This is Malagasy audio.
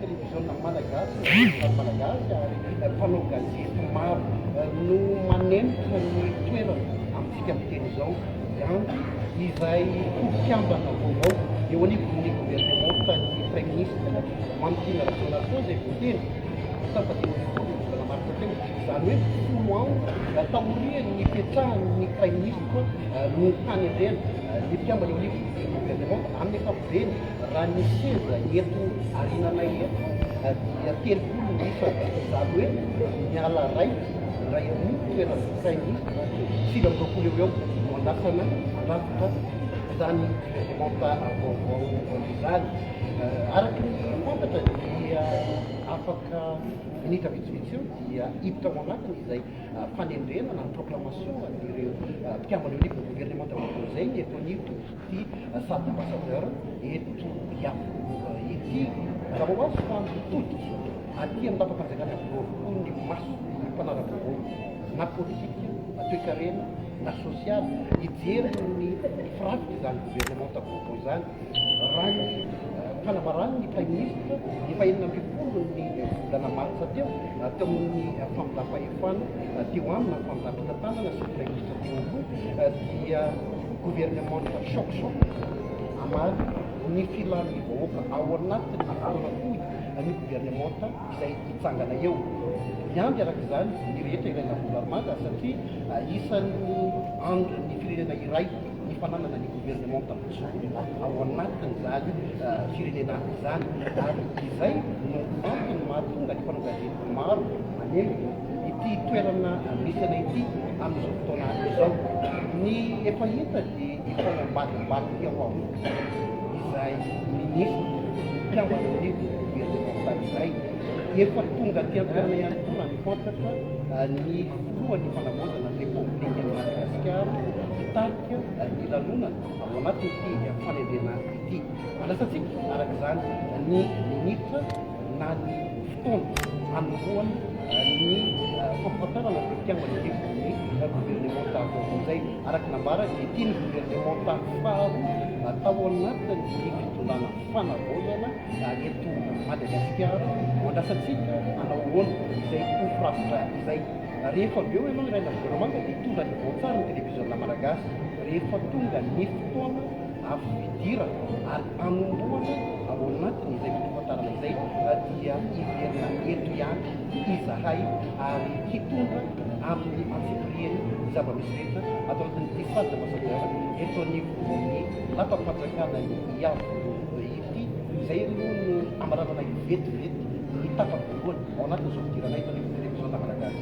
Televiziona Malagasy ny Vehivavy Malagasy ary mpanao gazety maro no manempotra ny toerany amintsika miteny izao. Gandhi izay ho mpikambana vaovao eo anivon'ny governemantan'ny Praiminisitra Mamitiana Rajaonarison izay voatendry ny tapa dimy ambin'ny folo ny volana martsa teo. Izany hoe folo andro taorian'ny nipetrahan'ny Praiminisitra no hanendrena ny mpikambana eo anivon'ny governemanta amin'ny ankapobeny. Eny, raha ny seza eto arinanay eto dia telopolo isa, izany hoe miala iray, iray amin'ny toeran'ny Praiminisitra, sivy amby roapolo eo ho eo no andrasana handrafitra izany Reglemanta vaovao izany. Araka ny fantatra dia afaka minitra vitsivitsy eo dia hiditra ao anatiny izay fanendrena na ny proclamation an'ireo mpikamban'io livre de gouvernement vaovao izay ny eto anivon'ny. ity Sac Ambassadeur eto Iavoloha ity. Raha hoavy fa mitodika aty amin'ny Lapam-panjakana avokoa ny mason'ny mpanara-baovao na politika na toekarena na sosialy hijery ny firafitr'izany governemanta vaovao izany. Raha ny fanambaran'ny Praiminisitra ny fahenina ambin'ny folo ny volana martsa teo teo amin'ny famindram-pahefana teo aminy na famindram-pitantanana sy ny Praiminisitra teo aloha dia ny governemanta Shokshok hamaly ny filan'ny vahoaka ao anatin'ny taona fohy an'io governemanta izay hitsangana eo. Hiandry araka izany ny rehetra ilay lavorarimaga satria isan'ny andrin'ny firenena iray ny fananana ny governemanta mijoro ao anatin'izany firenena izany ary izay no antony mahatonga ny mpanao gazety maro manembona ity toerana misy anay ity amin'izao fotoana izao. Ny efa hita dia efa ao ambadimbadika ao amin'ny Ministre izay Ministre mpiambina ny Governemantaly izay. Efa tonga aty an-toerana ihany koa raha ny fantatra ny Filohan'ny Fanavaozana ny Repoblikan'i Madagasikara hitarika ny lanonana ao anatin'ity fanendrena ity. Andrasantsika araka izany ny Ministra. na ny fotoana hanombohany ny fampahafantarana izay fitiavana hevitry ny governemanta vaovao izay, araka ny nambarany, dia tian'ny governemanta faharoa tao anatin'ny fitondrana fanavaozana eto Madagasikara ho andrasantsika hanao ahoana izay ho firafitra izay. Rehefa avy eo ianao hiray na governemanta dia hitondra ny vaotsary ny televiziona malagasy rehefa tonga ny fotoana fidirana ary Hanombohana ao anatin'izay fotoam-pantarina izay dia hiverina eto ihany izahay ary hitondra amin'ny antsipiriany ny zava-misy rehetra ato anatin'ity salle d'ambassadeur eto anivon'ny lapam-panjakana Iavoloha ity. Izay aloha no amaranana vetivety ny tapany voalohany ao anatin'izao fidirana eto anivon'ny Televiziona Malagasy.